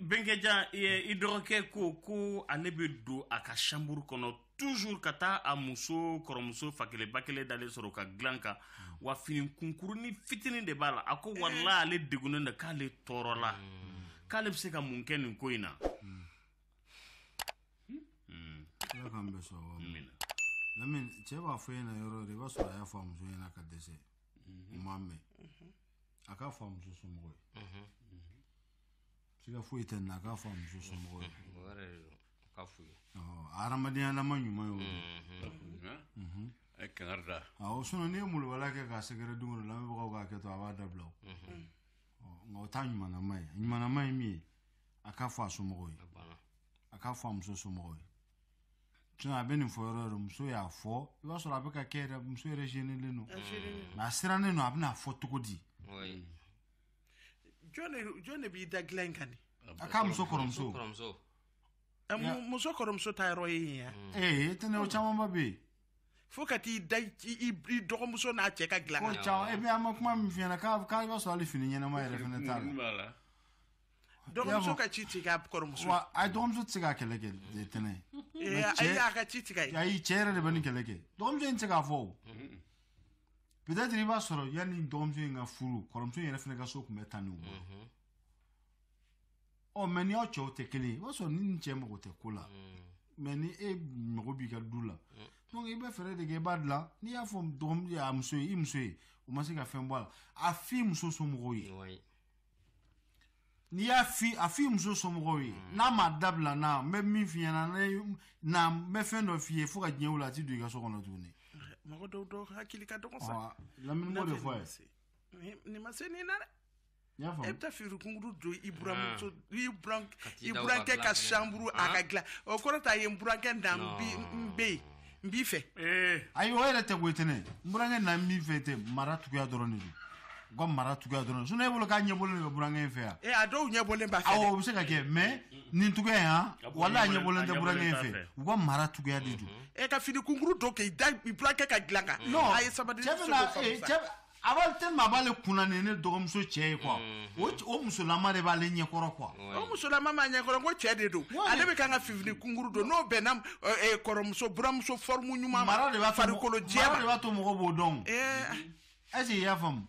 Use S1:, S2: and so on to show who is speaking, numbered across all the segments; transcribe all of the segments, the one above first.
S1: bɛnkɛja i dɔgɔkɛ ko ko ale bɛ don a ka chambre kɔnɔ toujours ka taa a muso kɔrɔmuso fa kelen ba kelen dalen sɔrɔ ka dilan kan wa fini kunkurunin fitinin de b'a la a ko walahi ale degunnen don k'ale tɔɔrɔla k'ale bɛ se ka mun kɛ nin ko in na
S2: ala k'an bɛɛ sɔn wa lamini cɛ b'a fɔ ɲɛna yɔrɔ yɔrɔ i b'a sɔrɔ a y'a fɔ a muso ɲɛna ka dɛsɛ u m'a mɛn a k'a fɔ a muso somɔgɔw ye siga foyi tɛ nin na a k'a fɔ a muso somɔgɔw ye k'a f'u ye a hadamadenyalama ɲuman y'o ye a ye kangari da awɔ
S1: sinon n'i ye
S2: molobaliya kɛ k'a sɛgɛrɛ don o don lamɛnbagaw k'a kɛ to a b'a dabila o nka o t'a ɲumanama ye ɲumanama ye min ye a k'a fɔ a somɔgɔw ye a k'a fɔ a muso somɔgɔw ye sinon a bɛ nin fɔ yɔrɔ yɔrɔ muso y'a fɔ i b'a sɔrɔ a bɛ ka kɛ yɛrɛ muso yɛrɛ zenelen don nka a sirannen don a bɛna fɔ cogo di
S3: jɔn de b'i da dilan in kan a k'a muso kɔrɔmuso muso kɔrɔmuso dayɔrɔ ye yen yan ee tɛnɛ o
S2: camanba bɛ yen fo ka t'i
S3: da i dɔgɔmuso n'a cɛ ka dilan kan o caman e bɛ an ma
S2: kuma min f'i ɲɛna k'a i b'a sɔrɔ hali fini ɲɛnama yɛrɛ fɛnɛ t'a la
S3: dɔgɔmuso ka ci tigɛ a kɔrɔmuso wa a dɔgɔmuso tɛ se
S2: ka kɛlɛ kɛ tɛnɛ ayi
S3: a ka ci tigɛ ye ayi cɛ yɛrɛ de bɛ nin
S2: kɛlɛ kɛ dɔgɔmuso in tɛ se k'a fɔ o peut-être i b'a sɔrɔ yanni dɔgɔmuso in ka furu kɔrɔmuso in yɛrɛ fana ka so tun bɛ tan ni bolo ɔ mais ni aw cɛw tɛ kelen ye i b'a sɔrɔ ni nin cɛ mago tɛ ko la mais ni e mago b'i ka du la donc i bɛ fɛɛrɛ de kɛ i b'a dilan n'i y'a fɔ dɔgɔmuso a muso ye i muso ye o ma se ka fɛn bɔ a la a f'i muso somɔgɔw ye n'i y'a f'i a f'i muso somɔgɔw ye mm. n'a ma dabila na n bɛ min f'i ɲɛna n bɛ fɛn dɔ f'i ye fo ka diɲɛ wuli a ti don i ka so kɔnɔ tuguni. mɔgɔ dɔw dɔw
S3: hakili ka dɔgɔ sa. lamini m'o de fɔ a
S2: ye. nin ma se nin
S3: na dɛ. i y'a faamu e
S2: bɛ taa fini
S3: kunkuru don i buramuso ah. i buran i burankɛ ka chambre a ka dilan o kɔrɔ t'a ye n burankɛ na n bɛ yen. n b'i fɛ ayi o yɛrɛ
S2: tɛ koyi tɛnɛ n burankɛ na n b'i fɛ tɛ mara cogoya dɔrɔn de don u ka mara cogoya dɔrɔn sinon e bolo k'a ɲɛbɔlen de bɛ burankɛ in fɛ yan ee a dɔw ɲɛbɔlen b'a fɛ
S3: awɔ o bɛ se ka kɛ
S2: mais nin cogoya in han walahi a ɲɛbɔlen tɛ burankɛ in fɛ u ka mara cogoya de don e ka fini kunkuru don
S3: k'i da burankɛ ka dilan kan a ye sabali cɛ bɛna cɛ
S2: a b'a tellement a b'ale kunna nin ye ne dɔgɔmuso cɛ ye quoi o cɛ- o musolama de b'ale ɲɛkɔrɔ quoi o musolama
S3: ma ɲɛkɔrɔ ko cɛ de don Wali. ale bɛ kan ka fini kunkuru don n'o bɛnna ɛ, ɛ, kɔrɔmuso buramuso forme ɲuman ma mara de b'a to farikolo
S2: mara de jɛma b'a
S3: to mɔgɔw b'o
S2: dɔn Ɛɛ, est-ce que i y'a faamu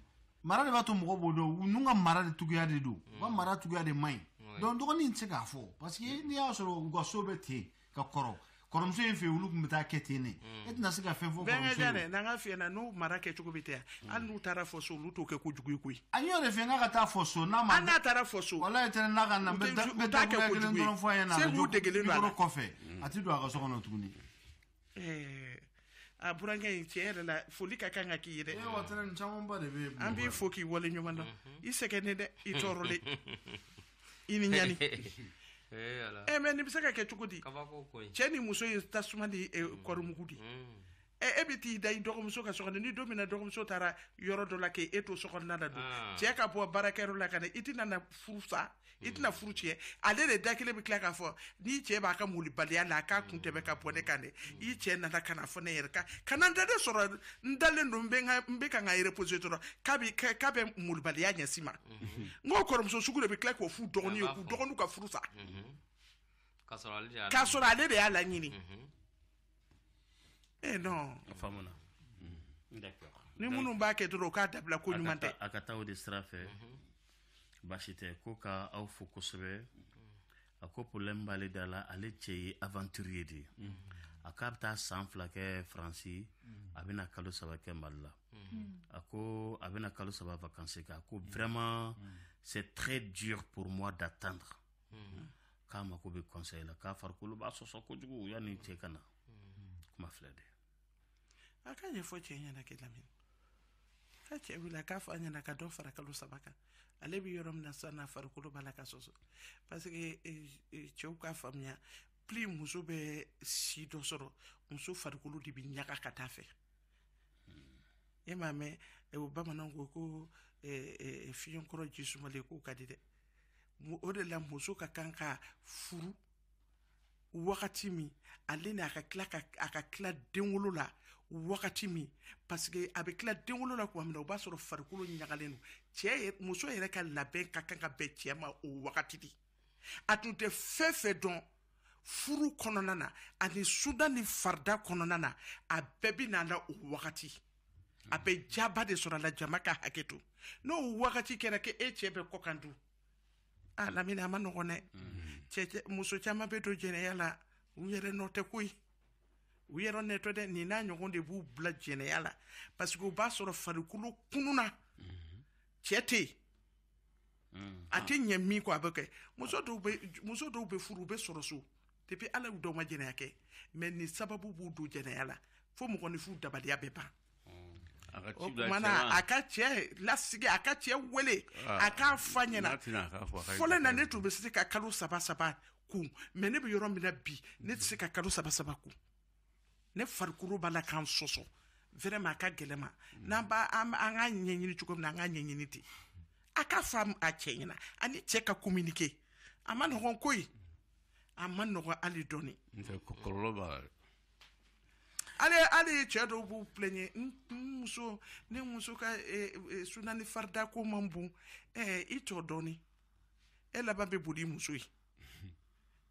S2: mara de b'a to mɔgɔw b'o dɔn ninnu ka mara de cogoya de don u ka mara cogoya de man ɲi donc dɔgɔnin tɛ se k'a fɔ parce que n'i y'a sɔrɔ u ka so bɛ ten ka kɔrɔ kɔrɔmuso in fɛ olu tun bɛ taa kɛ ten ne e tɛna se ka fɛn fɔ dɛ n'an ka f'i ɲɛna n'u
S3: mara kɛcogo bɛ ten hali n'u taara fɔ so olu t'o kɛ ko jugu koyi a y'o de f'a ɲɛna a ka taa
S2: fɔ so n'a ma n'a taara fɔ so
S3: wala tɛ n'a ka
S2: na taa kɛ ko dɔrɔn fɔ a ɲɛna kelen kɔfɛ a tɛ don a ka so kɔnɔ tuguni
S3: a burankɛ in tiɲɛ yɛrɛ la foli ka kan ka k'i ye
S2: dɛ an b'i fo k'i waleɲuman
S3: dɔn i sɛgɛnnen dɛ i tɔɔrɔlen i ni ɲani e mais nin bɛ se ka kɛ cogo di cɛ ni muso ye tasuma ni eh, mm. kɔrimugu di mm. eh, e bɛ t'i da i dɔgɔmuso ka so kɔnɔ ni don min na dɔgɔmuso taara yɔrɔ dɔ la k'e e to sokɔnɔna la don ah. cɛ ka bɔ baarakɛyɔrɔ la ka na i tɛna na furu sa i tɛna mm. furu cɛ ale de da kelen bɛ tila k'a fɔ n'i cɛ b'a ka malobaliya la a k'a kun tɛmɛ ka bɔ ne kan dɛ mm. i cɛ nana ka na fɔ ne yɛrɛ kan ka na n dalen sɔrɔ n dalen don n bɛ ka n ka reposer dɔrɔn k'a bɛ k'a bɛ malobaliya ɲɛsin n ma mm-hmm. n ko kɔrɔmuso sugu de bɛ tila k'o f'u dɔgɔnin ye k'u dɔgɔninw ka furu sa mm-hmm. k'a sɔrɔ ale de y'a laɲini mm-hmm. eh non a faamuna
S1: mm. d'accord ni minnu b'a
S3: kɛ dɔrɔn u k'a dabila ko ɲuman tɛ a ka taa o de sira fɛ
S1: baasi tɛ ko ka aw fo kosɛbɛ a ko problème b'ale da la ale cɛ ye aventurier de ye a k'a bɛ taa san fila kɛ faransi a bɛna kalo saba kɛ mali la a ko a bɛna kalo saba vacances kɛ a ko vraiment c'est très dur pour moi d'attendre k'a mako bɛ conseil la k'a farikolo b'a sɔsɔ kojugu yanni cɛ ka na kuma filɛ dɛ a
S3: k'a ɲɛfɔ cɛ ɲɛna kɛ lamini ka cɛ wele a k'a fɔ a ɲɛna ka dɔ fara kalo saba kan ale bɛ yɔrɔ min na sisan n'a farikolo b'a la ka sɔsɔ parce que eh, eh, cɛw k'a faamuya plus muso bɛ si dɔ sɔrɔ muso farikolo de bɛ ɲaga ka taa fɛ e m'a mɛn eh, o bamananw ko ko fiɲɛ kɔrɔ ji sumalen k'o ka di dɛ o de la muso ka kan ka furu wagati min ale ni a ka tila a ka tila denwolo la wagati min paseke a bɛ tila denwolo la tuma min na o b'a sɔrɔ farikolo ɲagalen don cɛ muso yɛrɛ ka labɛn ka kan ka bɛn cɛ ma o wagati de a tun tɛ fɛn fɛn dɔn furu kɔnɔna na ani suna ni farida kɔnɔna na a bɛɛ bɛ n'a la o wagati a bɛ diyaba de sɔrɔ a la jama ka hakɛ to n'o wagati kɛra k'e cɛ bɛ kɔkan dun a lamini a ma nɔgɔn dɛ cɛ muso caman bɛ don jɛnɛya la u yɛrɛ nɔ tɛ koyi u yɛrɛ nɔ tɛ dɛ nin n'a ɲɔgɔn de b'u bila jɛnɛya la parce que o b'a sɔrɔ farikolo kununna cɛ tɛ yen mm. a tɛ ɲɛ min kɔ a bɛ kɛ muso dɔw bɛ muso dɔw bɛ furu u bɛ sɔrɔ so depuis ala y'u da u ma jɛnɛya kɛ mais nin sababu b'u don jɛnɛya la fo mɔgɔninfin dabaliya bɛ ban a ka cɛ lasigi a ka cɛ weele ah. a k'a f'a ɲɛna fɔlɔ na ne tun bɛ se ka kalo saba saba kun mais ne bɛ yɔrɔ min na bi ne tɛ se ka kalo saba saba kun ne farikolo b'a la ka n sɔsɔ vraiment a ka gɛlɛn n ma n'an b'a an k'a ɲɛɲini cogo min na an k'a ɲɛɲini ten a k'a fɔ a cɛ ɲɛna a ni cɛ ka communiquer a man nɔgɔn koyi a man nɔgɔn hali dɔɔni kɔlɔlɔ b'a
S4: la
S3: ale ale cɛ dɔw b'u plɛɲɛ n muso ne muso ka eh, eh, sunna ni farida ko man bon eh, i to dɔɔni e laban bɛ boli i muso ye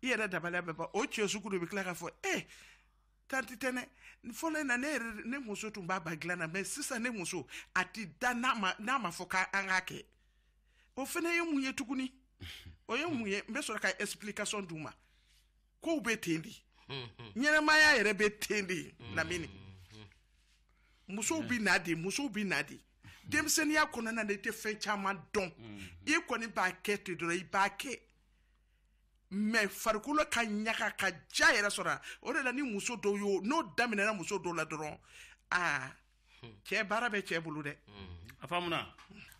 S3: i yɛrɛ dabaliya bɛ ban o cɛ sugu de bɛ tila k'a fɔ e tanti tɛnɛ fɔlɔ in na ne yɛrɛ ne muso tun b'a ban dilan na mais sisan ne muso a ti da n'a ma n'a ma fɔ k'an k'a kɛ o fana ye mun ye tuguni o ye mun ye n bɛ sɔrɔ ka explication d'u ma kow bɛ ten de ɲɛnamaya yɛrɛ bɛ ten de lamini musow bɛ na de musow bɛ na de denmisɛnninya kɔnɔna na i tɛ fɛn caman dɔn i kɔni b'a kɛ ten dɔrɔn i b'a kɛ mais farikolo ka ɲaga ka ja yɛrɛ sɔrɔ o de la ni muso dɔw y'o n'o daminɛna muso dɔw la dɔrɔn aa cɛ baara bɛ cɛ bolo dɛ a
S1: faamuna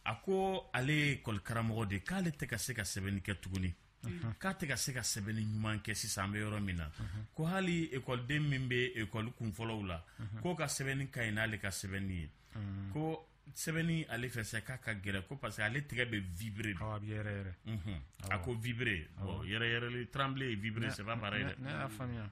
S1: a ko ale ye ekɔlikaramɔgɔ de k'ale tɛ ka se ka sɛbɛnni kɛ tuguni k'a tɛ ka se ka sɛbɛnni ɲuman kɛ sisan an bɛ yɔrɔ min na ko hali ekɔliden min bɛ ekɔli kunfɔlɔw la k'o ka sɛbɛnni ka ɲi n'ale ka sɛbɛnni ye ko sɛbɛnni ale fɛ sa k'a ka gɛlɛn ko parce que ale tɛgɛ bɛ vibrer de a bɛ yɛrɛyɛrɛ
S5: a ko
S1: vibrer bon yɛrɛyɛrɛli trembler et vibrer c'est pas pareil dɛ ne y'a faamuya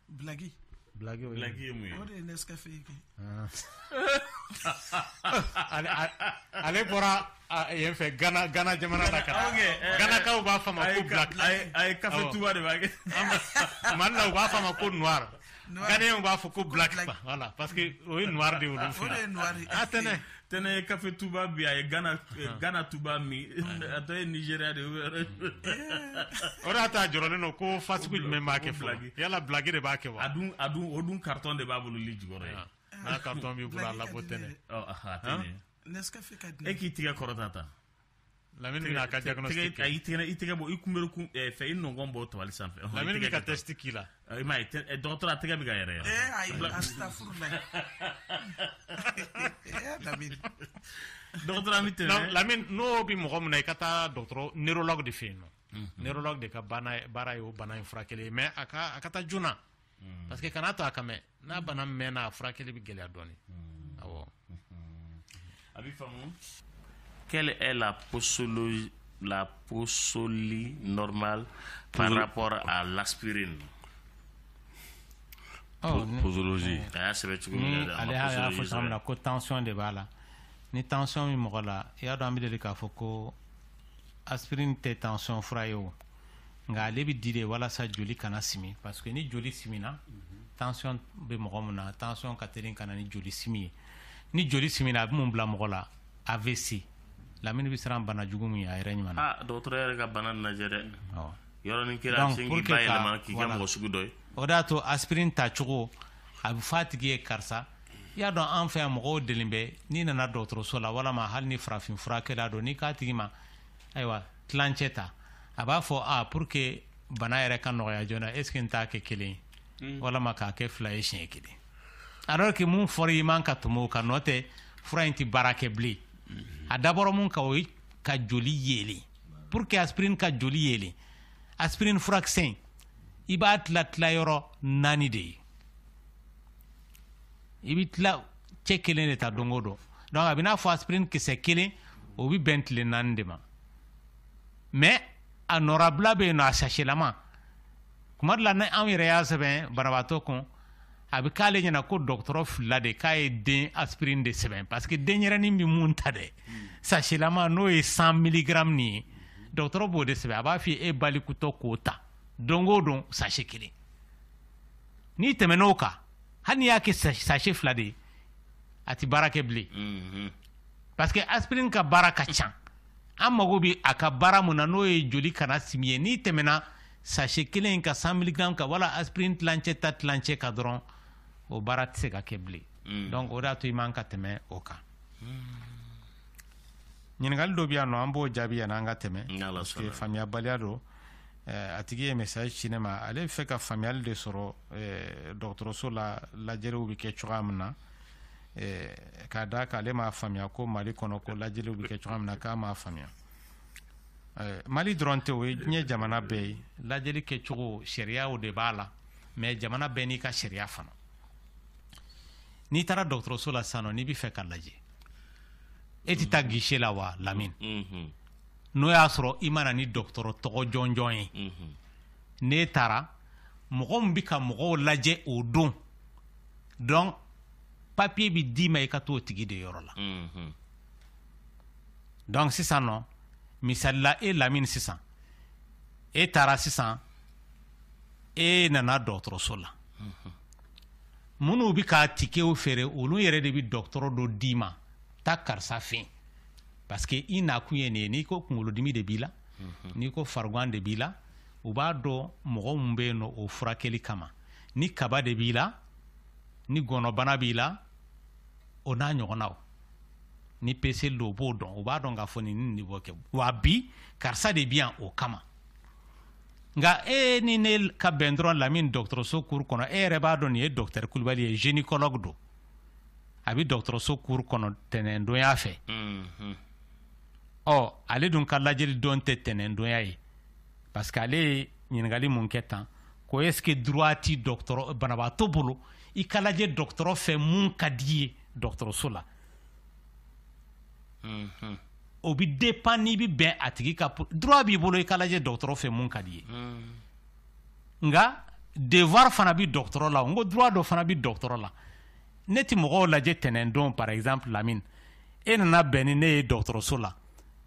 S3: Bilaki bilaki bilaki
S1: ye mun ye o de ye nescafé ye
S5: ale bɔra yen fɛ gana gana jamana la ka ganakaw b'a fɔ a ma ko black a ye café
S1: touba de b'a kɛ mali la u b'a fɔ a
S5: ma ko noir ghanéens b'a fɔ ko black voilà parce que o ye noir de ye olu fɛ a tɛ
S3: ne tɛnɛ
S1: ye café touba bi a ye gana eh, touba min a tɔ ye nigeria de ye
S5: o de y'a to a jɔrɔlen don ko fasugu jumɛn b'a kɛ fɔlɔ yala bilaki de b'a kɛ wa a dun a dun o dun
S1: karitɔn de b'a bolo lit jukɔrɔ yen n'a karitɔn
S5: b'i bolo a labɔ tɛnɛ
S3: e k'i tɛgɛ kɔrɔta ta
S1: lamini
S5: bɛna a ka diagnostic kɛ i tɛgɛ i tɛgɛ bɔ
S1: i kunbere kun eh, fɛ i nɔngɔn bɔ tabali sanfɛ lamini bɛ ka test k'i
S5: la i m'a ye eh, dɔgɔtɔrɔ
S1: a tɛgɛ bɛ ka yɛrɛyɛrɛ eh, ayi astafurula lamini dɔgɔtɔrɔ an bɛ tɛmɛ lamini n'o bɛ
S5: mɔgɔ min na i ka taa dɔgɔtɔrɔ neurologue de fɛ yen nɔ mhm. neurologue de ka baara ye o bana in furakɛli ye mais a ka a ka taa joona mm. parce que kana to a ka mɛn n'a bana mɛnna a furakɛli bɛ gɛlɛya dɔɔni mm. awɔ
S1: mm-hmm. a bɛ faamu quelle est la posologie la posologie normale par rapport à
S4: l'aspirine oh, posologie a y'a sɛbɛn cogo min
S5: na ale y'a fɔ cogo min na ko tension de b'a la ni tension bɛ mɔgɔ la i y'a dɔn an bɛ deli k'a fɔ ko aspirine tɛ tension fura ye o nka ale bɛ di de walasa joli kana simi parce que ni joli simina tension bɛ mɔgɔ min na tension ka teli ka na ni joli simi ye ni joli simina a bɛ mun bila mɔgɔ la AVC lamini bɛ siran bana jugu min ɲɛ a yɛrɛ ɲuman na. aa dɔgɔtɔrɔ yɛrɛ ka
S1: bana lajɛ dɛ. awɔ yɔrɔnin kɛra sin k'i bayɛlɛma k'i kɛ mɔgɔ sugu dɔ ye. o de y'a to
S5: aspirine tacogo a bɛ fɔ a tigi ye karisa i y'a dɔn an fɛ yan mɔgɔw delilen bɛ n'i nana dɔgɔtɔrɔso la walama hali ni farafin furakɛla don n'i k'a tigi ma ayiwa tilancɛ ta a b'a fɔ a pour que bana yɛrɛ ka nɔgɔya joona est ce que n t'a kɛ kelen ye hmm. walama k'a kɛ fila ye siɲɛ kelen alors que mun fɔra i man ka tɛmɛ o kan n'o tɛ fura in tɛ baara kɛ bilen a dabɔra mun kan o ye ka joli yeelen pour que aspirine ka joli yeelen aspirine furakisɛ in i b'a tila tila yɔrɔ naani de ye i bɛ tilancɛ kelen de ta don o don donc a b'i n'a fɔ aspirine kisɛ kelen o bɛ bɛn tile naani de ma mais a nɔrabila bɛ yen nɔ a sachelama kuma dɔ la ni anw yɛrɛ y'a sɛbɛn banabaatɔ kun a bɛ k'ale ɲɛna ko dɔgɔtɔrɔ filila de k'a ye den aspirine de sɛbɛn parce que denyɛrɛnin bɛ mun ta dɛ sachelama n'o ye 100 miligramme nin ye dɔgɔtɔrɔ b'o de sɛbɛn a b'a f'i ye e balikutɔ k'o ta don o don sachet kelen n'i tɛmɛn'o kan hali n'i y'a kɛ sachet fila de ye a tɛ baara kɛ bilen mhm. parce que aspirine ka baara ka ca an mago bɛ a ka baara min na n'o ye joli kana simi ye n'i tɛmɛna sachet kelen in ka 100 miligram kan wala aspirine tilancɛ ta tilancɛ kan dɔrɔn o baara tɛ se ka kɛ bilen mhm. donc o de y'a to i man ka tɛmɛ o kan ɲininkali dɔ bɛ yan nɔ an b'o jaabi yanni an ka tɛmɛ parce que faamuyabaliya don a tigi ye message ci ne ma ale bɛ fɛ ka faamuyali de sɔrɔ dɔgɔtɔrɔso la lajɛliw bɛ kɛ cogoya min na k'a d'a kan ale m'a faamuya ko mali kɔnɔ ko lajɛliw bɛ kɛ cogoya min na k'a m'a faamuya mali dɔrɔn tɛ o ye diɲɛ jamana bɛɛ ye lajɛli kɛcogo sariyaw de b'a la mais jamana bɛɛ n'i ka sariya fana n'i taara dɔgɔtɔrɔso la sisan nɔ n'i bɛ fɛ ka lajɛ e tɛ taa guichet la wa lamini n'o y'a sɔrɔ i ma na ni dɔgɔtɔrɔ tɔgɔ jɔnjɔn ye mhm. n'e taara mɔgɔ min bɛ ka mɔgɔw lajɛ o don donc papiye bɛ d'i ma i ka t'o tigi de yɔrɔ la mhm. donc sisan nɔ misali la e lamini sisan e taara sisan e nana dɔgɔtɔrɔso la mhm. minnu bɛ ka tikew feere olu yɛrɛ de bɛ dɔgɔtɔrɔ dɔ d'i ma taa karisa fɛ yen parce que i nakun ye nin ye n'i ko kunkolodimi de b'i la mhm. n'i ko farigan de b'i la u b'a dɔn mɔgɔ min bɛ yen nɔ o furakɛli kama ni kaba de b'i la ni gɔnɔbana b'i la o n'a ɲɔgɔnnaw ni peseli don o b'o dɔn o b'a dɔn k'a fɔ nin ni nin b'o kɛ wa bi karisa de bi yan o kama nka e ni ne ka bɛn dɔrɔn lamini dɔgɔtɔrɔso cour kɔnɔ e yɛrɛ b'a dɔn nin ye docteur kulubali ye gynécologue don a bɛ dɔgɔtɔrɔso cour kɔnɔ tɛnɛndonya fɛ ɔ ale dun ka lajɛli don tɛ tɛnɛndonya ye parce que ale ye ɲininkali mun kɛ tan ko est ce que droit ti dɔgɔtɔrɔ banabaatɔ bolo i ka lajɛ dɔgɔtɔrɔ fɛ mun ka d'i ye dɔgɔtɔrɔso la o bɛ dépend n'i bɛ bɛn a tigi ka droit b'i bolo i ka lajɛ dɔgɔtɔrɔ fɛ mun ka d'i ye nka devoir fana bi dɔgɔtɔrɔ la n ko droit dɔ fana bi dɔgɔtɔrɔ la ne ti mɔgɔw lajɛ tɛnɛndon par exemple lamine e nana bɛn ni ne ye dɔgɔtɔrɔso la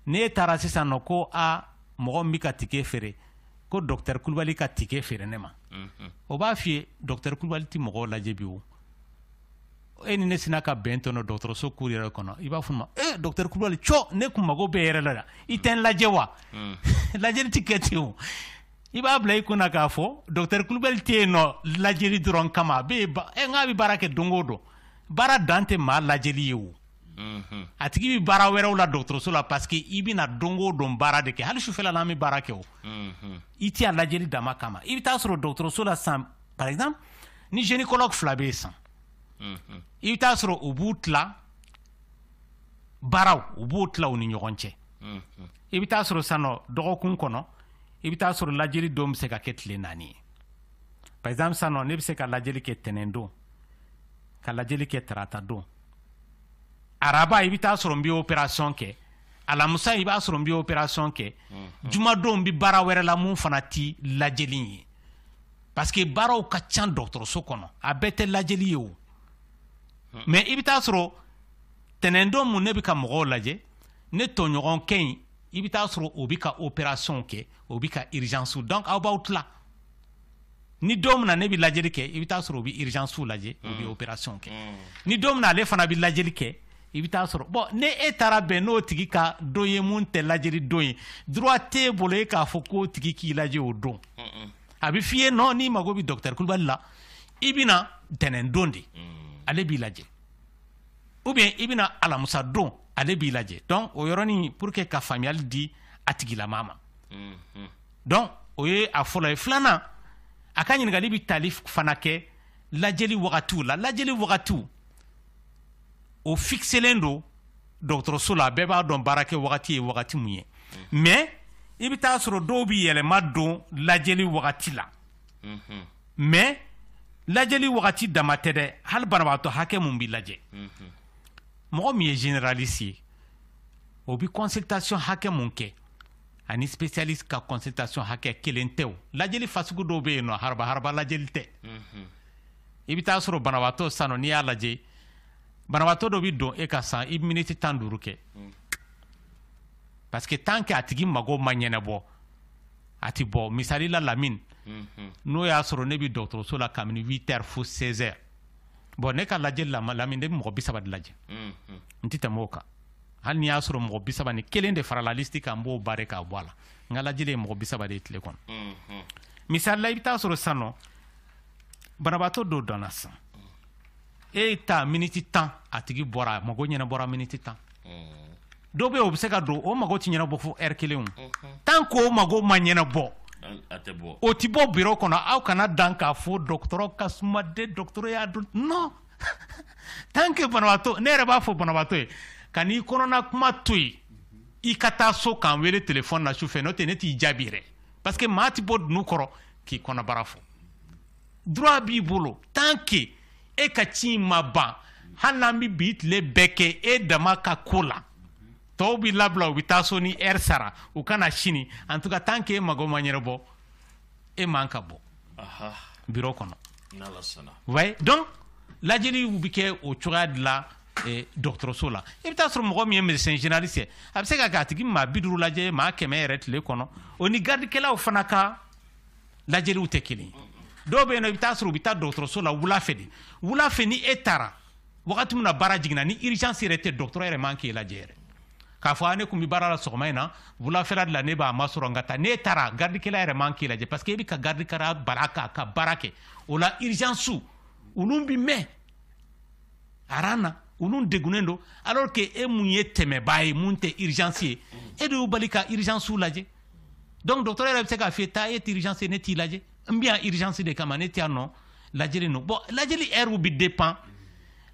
S5: n'e taara sisan nɔ ko a mɔgɔ min bɛ ka tike feere ko docteur kulubali ka tike feere ne ma mhm. o b'a f'i ye docteur kulubali ti mɔgɔw lajɛ bi o e ni ne sina ka bɛn tɔnɔ dɔgɔtɔrɔso cour yɛrɛ kɔnɔ i b'a fɔ n ma e docteur kulubali cɔ ne kun mago b'e yɛrɛ la i tɛ n lajɛ wa mhm. lajɛli ti kɛ ten o i b'a bila i kun na k'a fɔ docteur kulubali tɛ yen nɔ lajɛli dɔrɔn kama a bɛ eh, n'a bɛ baara kɛ don o don baara dan tɛ maa lajɛli ye o mhm. a tigi bɛ baara wɛrɛw la dɔgɔtɔrɔso la parce que i bɛna don o don baara de kɛ hali sufɛla n'an bɛ baara kɛ o mhm. i tɛ a lajɛli dama kama i bɛ taa sɔrɔ dɔgɔtɔrɔso la san par exemple ni gynécologue fila bɛ yen san mhm. i bɛ taa sɔrɔ u b'u tila baaraw u b'u tila u ni ɲɔgɔn cɛ i bɛ taa sɔrɔ san nɔ dɔgɔkun kɔnɔ i bɛ taa sɔrɔ lajɛli don bɛ se ka kɛ tile naani ye par exemple sisan nɔ ne bɛ se ka lajɛli kɛ tɛnɛn don ka lajɛli kɛ tarata don araba i bɛ taa sɔrɔ n bɛ opération kɛ alamusa i b'a sɔrɔ n bɛ opération kɛ mhm. jumadon n bɛ baara wɛrɛ la mun fana ti lajɛli ye parce que baaraw ka ca dɔgɔtɔrɔso kɔnɔ a bɛɛ tɛ lajɛli ye o mhm. mais i bɛ taa sɔrɔ tɛnɛndon mun ne bɛ ka mɔgɔw lajɛ ne tɔɲɔgɔnkɛ in i bɛ taa sɔrɔ o bɛ ka opération kɛ o bɛ ka urgence donc aw b'aw tila ni don min na ne bɛ lajɛli kɛ i bɛ taa sɔrɔ o bɛ urgence lajɛ o bɛ opération kɛ ni don min na ale fana bɛ lajɛli kɛ i bɛ taa sɔrɔ bon ni e taara bɛn n'o tigi ka don ye mun tɛ lajɛli don ye droit t'e bolo e k'a fɔ k'o tigi k'i lajɛ o don a bɛ f'i ye non n'i mago bɛ docteur kulubali la i bɛ na ntɛnɛndon de ale b'i lajɛ ou bien i bɛna alamusa don ale b'i lajɛ donc o yɔrɔnin pour que ka faamuyali di a tigilama ma mhm. donc o ye a fɔlɔ ye filanan a ka ɲininkali bɛ tali fana kɛ lajɛli wagatiw la lajɛli wagatiw o fixelen don dɔgɔtɔrɔso la bɛɛ b'a dɔn baara kɛ wagati ye wagati mun ye mhm. mais i bɛ taa sɔrɔ dɔw bɛ yɛlɛma don lajɛli wagati la mais lajɛli wagati dama tɛ dɛ hali banabagatɔ hakɛ mun bɛ lajɛ mɔgɔ min ye généraliste ye o bɛ consultation hakɛ mun kɛ ani spécialiste ka consultation hakɛ kelen tɛ o lajɛli fasugu dɔw bɛ yen nɔ haraba haraba lajɛli tɛ i bɛ taa sɔrɔ banabagatɔ san nɔ n'i y'a lajɛ banabagatɔ dɔ bɛ don e ka san i bɛ miniti tan duuru kɛ parce que tant que a tigi mago ma ɲɛnabɔ a tɛ bɔ misali la lamini n'o y'a sɔrɔ ne bɛ dɔgɔtɔrɔso la kabini huit heures fo seize heures bon ne ka lajɛli la lamini ne bɛ mɔgɔ bi saba de lajɛ n tɛ tɛmɛ o kan hali n'i y'a sɔrɔ mɔgɔ bi saba ni kelen de farala liste kan n b'o barré k'a bɔ a la n ka lajɛli ye mɔgɔ bi saba de ye tile kɔnɔ misali la i bɛ taa sɔrɔ san nɔ banabaatɔ dɔ donna san e ye taa miniti tan a tigi bɔra a mago ɲɛnabɔra miniti tan dɔw bɛ o bɛ se ka don o mago tɛ ɲɛnabɔ fo heure kelen tant que o mago ma ɲɛnabɔ o tɛ bɔ biro kɔnɔ aw kana dan k'a fɔ dɔgɔtɔrɔ ka suman de dɔgɔtɔrɔ y'a dɔn non tant que banabaatɔ ne yɛrɛ b'a fɔ banabaatɔ ye kan'i kɔnɔna kuma to yen i ka taa so k'an wele telefɔni na su fɛ n'o tɛ ne t'i jaabi yɛrɛ parce que maa tɛ bɔ dunun kɔrɔ k'i kɔnɔbara fɔ droit b'i bolo tant que e ka ci in ma ban hali n'an bɛ bi tile bɛɛ kɛ e dama ka ko la tɔw bɛ labila u bɛ taa so ni heure sara u ka na sini en tout cas tant que e mago ma ɲɛnabɔ e man ka bɔ biro kɔnɔ ouais donc lajɛliw bɛ kɛ o cogoya de la eh, dɔgɔtɔrɔso la i bɛ taa sɔrɔ mɔgɔ min ye médecin généraliste ye a bɛ se ka kɛ a tigi maa bi duuru lajɛ maa kɛmɛ yɛrɛ tile kɔnɔ o ni garidikɛlaw fana ka lajɛliw tɛ kelen dɔw bɛ yen nɔ i bɛ taa sɔrɔ u bɛ taa dɔgɔtɔrɔso la wula fɛ de wula fɛ ni e taara wagati min na baara jiginna ni urgence yɛrɛ tɛ dɔgɔtɔrɔ yɛrɛ man k'e lajɛ yɛrɛ k'a fɔ ne kun bɛ baara la sɔgɔma in na wulafɛla de la ne b'a masɔrɔ n ka taa n'e taara garidikɛla yɛrɛ man k'e lajɛ parce que e bɛ ka garidikɛla bali k'a ka baara kɛ o la urgence olu bɛ mɛn aran na olu degunnen don alors que e mun ye tɛmɛbaa ye mun tɛ urgence ye e de y'u bali ka urgence lajɛ donc docteur yɛrɛ bɛ se k'a f'i ye taa e t'urgence ne t'i lajɛ n bɛ yan urgence de kama ne tɛ yan nɔ lajɛli nɔ bon lajɛli heure bɛ dépend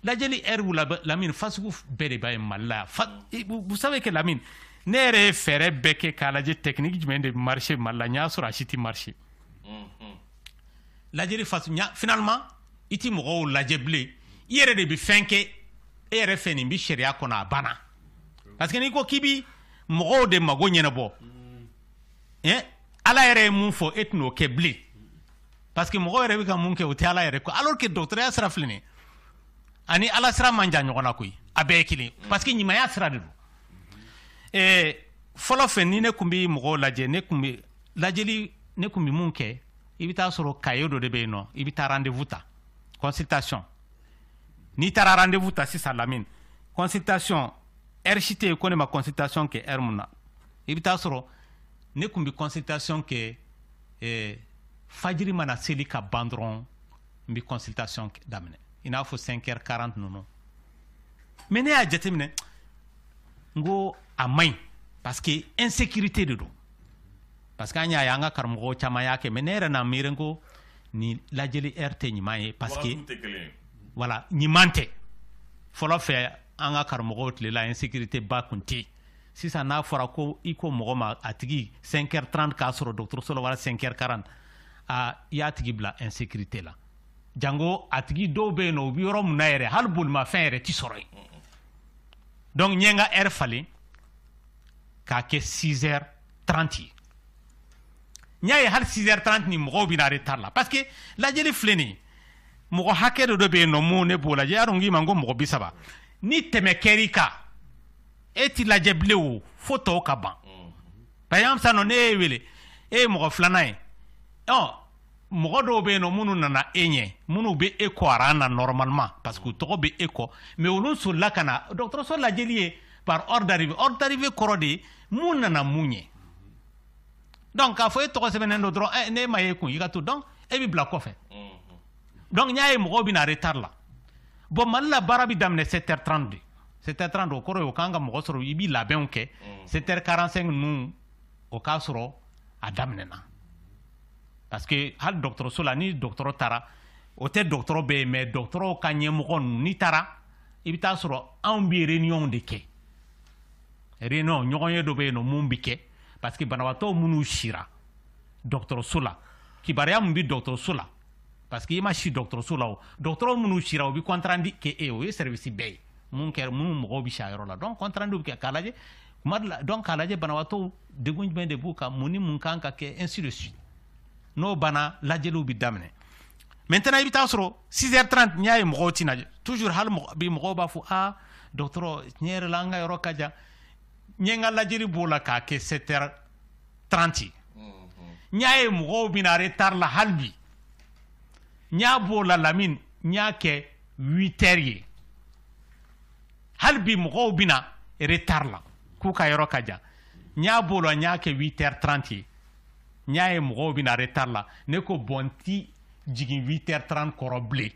S5: lajɛli heure la Lamine façon bɛɛ de b'a ye Mali la vous savez que Lamine ne yɛrɛ ye fɛɛrɛ bɛɛ kɛ k'a lajɛ technique jumɛn de marché Mali la n y'a sɔrɔ a si tɛ marché lajɛli façon finalement i tɛ mɔgɔw lajɛ bilen i yɛrɛ de bɛ fɛn kɛ e yɛrɛ fɛ nin bɛ sariya kɔnɔ a banna parce que n'i ko k'i bi mɔgɔw de mago ɲɛnabɔ eh? ala yɛrɛ ye mun fɔ e tɛn'o kɛ bilen parce que mɔgɔ yɛrɛ bɛ ka mun kɛ o tɛ ala yɛrɛ ko alors que dɔgɔtɔrɔya sira filɛ nin ani ala sira man jan ɲɔgɔn na koyi a bɛɛ ye kelen parce que ɲumanya sira de don eh, fɔlɔ fɛ ni ne kun bɛ mɔgɔw lajɛ ne kun bɛ lajɛli ne kun bɛ mun kɛ i bɛ taa sɔrɔ cahier dɔ de bɛ yen nɔ i bɛ taa rendez-vous ta consultation n'i taara rendez-vous ta sisan Lamine consultation heure si tɛ yen ko ne ma consultation kɛ heure mun na i bɛ taa sɔrɔ ne kun bɛ consultation kɛ eh, fajiri mana seli ka ban dɔrɔn n bɛ consultation daminɛ i n'a fɔ 5 heures 40 ninnu mais ne y'a jateminɛ n ko a man ɲi parce que insécurité de don parce que an y'a ye an ka karamɔgɔ caman y'a kɛ mais ne yɛrɛ n'a miiri ko nin lajɛli heure tɛ ɲuman ye parce que voilà ɲuman tɛ fɔlɔ fɛ an ka karamɔgɔw tile la insécurité ba kun tɛ sisan n'a fɔra ko i ko mɔgɔ ma a tigi 5 heures 30 k'a sɔrɔ dɔgɔtɔrɔso la wala 5 heures 40 a i y'a tigi bila insécurité la jango a tigi dɔw bɛ yen nɔ u bɛ yɔrɔ min na yɛrɛ hali bolimafɛn yɛrɛ tɛ sɔrɔ yen donc n ye n ka heure falen k'a kɛ 6 heures 30 ye n y'a ye hali 6h30 ni mɔgɔw bɛ na retard la parce que lajɛli filɛ nin ye mɔgɔ hakɛ dɔ dɔ bɛ yen nɔ mun ne b'o lajɛ y'a dɔn k'i ma ko mɔgɔ bi saba ni tɛmɛ kɛr'i kan e ti lajɛ bilen o fo tɔw ka ban par exemple sisan nɔ ne y'e wele e ye mɔgɔ filanan ye ɔ mɔgɔ dɔw bɛ yen nɔ minnu nana e ɲɛ minnu bɛ e kɔ aran na normalement parce que u tɔgɔ bɛ e kɔ mais olu solila ka na dɔgɔtɔrɔso lajɛli ye par ordre d'arrivée ordre d'arrivée kɔrɔ de ye mun nana mun ɲɛ donc k'a fɔ e tɔgɔ sɛbɛnnen don dɔrɔn eh, ne ma ye kun i ka to donc e bɛ bila kɔfɛ donc n y'a ye mɔgɔw bɛ na retard la bon mali la baara bɛ daminɛ 7h30 de 7h30 de o kɔrɔ ye o kan ka mɔgɔ sɔrɔ i bɛ labɛnw kɛ 7h45 ninnu o k'a sɔrɔ a daminɛna parce que hali dɔgɔtɔrɔso la ni dɔgɔtɔrɔ taara o tɛ dɔgɔtɔrɔ bɛɛ ye mais dɔgɔtɔrɔw ka ɲɛmɔgɔ ninnu n'i taara i bɛ taa sɔrɔ anw bɛ réunion de kɛ réunion ɲɔgɔnye dɔ bɛ yen nɔ mun bɛ kɛ parce que banabaatɔ minnu sira dɔgɔtɔrɔso la kibaruya min bɛ dɔgɔtɔrɔso la parce que i ma si dɔgɔtɔrɔso la o dɔgɔtɔrɔ minnu sira u bɛ compte rendu kɛ e o ye service bɛɛ ye mun kɛra minnu mɔgɔw bɛ si a yɔrɔ la donc compte rendu bɛ kɛ k'a lajɛ kuma dɔ la donc k'a lajɛ banabaatɔw degun jumɛn de b'u kan mun ni mun kan ka kɛ ainsi de suite n'o banna lajɛliw bɛ daminɛ maintenant i bɛ taa sɔrɔ 6h30 n y'a ye mɔgɔw tɛ na toujours hali bi mɔgɔw b'a fɔ aa dɔgɔtɔrɔ tiɲɛ yɛrɛ la an ka yɔrɔ ka jan n ye n ka lajɛli b'o la k'a kɛ 7h30 ye n y'a ye mɔgɔw bɛ na retard la hali bi n y'a b'o la lamini n y'a kɛ 8h ye hali bi mɔgɔw bɛ na retard la k'u ka yɔrɔ ka jan n y'a b'o la n y'a kɛ 8h30 ye n y'a ye mɔgɔw bɛ na retard la ne ko bon n ti jigin 8h30 kɔrɔ bilen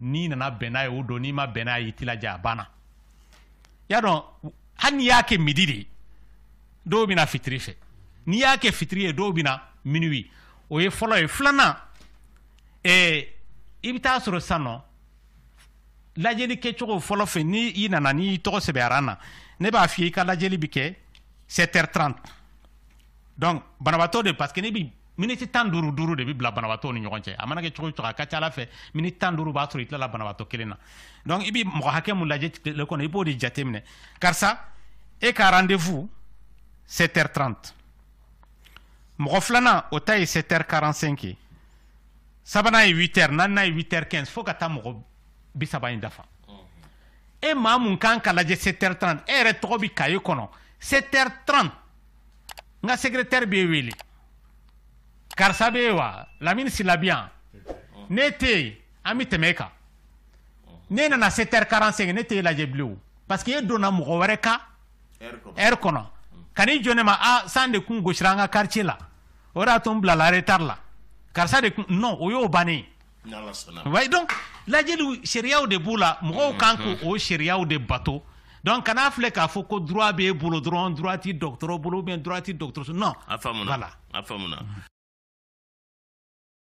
S5: n'i nana bɛn n'a ye o don n'i ma bɛn n'a ye i ti lajɛ a banna y'a dɔn hali n'i y'a kɛ midi de ye dɔw bɛ na fitiri fɛ n'i y'a kɛ fitiri ye dɔw bɛ na minuit o ye fɔlɔ ye filanan ɛɛ i bɛ taa sɔrɔ sisan nɔ lajɛli kɛcogo fɔlɔ fɛ ni i nana n'i tɔgɔ sɛbɛnna rang na ne b'a f'i ye i ka lajɛli bɛ kɛ 7h30 donc banabaatɔ de parce que ne bi miniti tan duuru duuru de bɛ bila banabaatɔw ni ɲɔgɔn cɛ a mana kɛ cogo o cogo a ka ca a la fɛ miniti tan duuru b'a sɔrɔ i tilala banabaatɔ kelen na donc i bɛ mɔgɔ hakɛ mun lajɛ tile kɔnɔ i b'o de jateminɛ karisa e ka rendez-vous 7h30 mɔgɔ filanan o ta ye 7h45 ye sabanan ye 8h naaninan ye 8h15 fo ka taa mɔgɔ bi saba in dafa e maa mun kan ka lajɛ 7h30 e yɛrɛ tɔgɔ bɛ kaye kɔnɔ 7h30 n ka secrétaire b'e wele karisa bɛ yen wa lamini sila bi yan n'e tɛ yen an bɛ tɛmɛ e kan n'e nana 7h45 ne tɛ e lajɛ bilen parce que e donna mɔgɔ wɛrɛ ka heure kɔnɔ kan'i jɔ ne ma a ah, san de kun gosira an ka quartier la o de y'a to n bilala retard la karisa de kun non o y'o bannen ye donc lajɛli sariyaw de b'u la mɔgɔw kan k'o sariyaw de bato donc kana filɛ k'a fɔ ko droit b'e bolo dɔrɔn droit ti
S1: dɔgɔtɔrɔ
S5: bolo ou bien droit ti dɔgɔtɔrɔso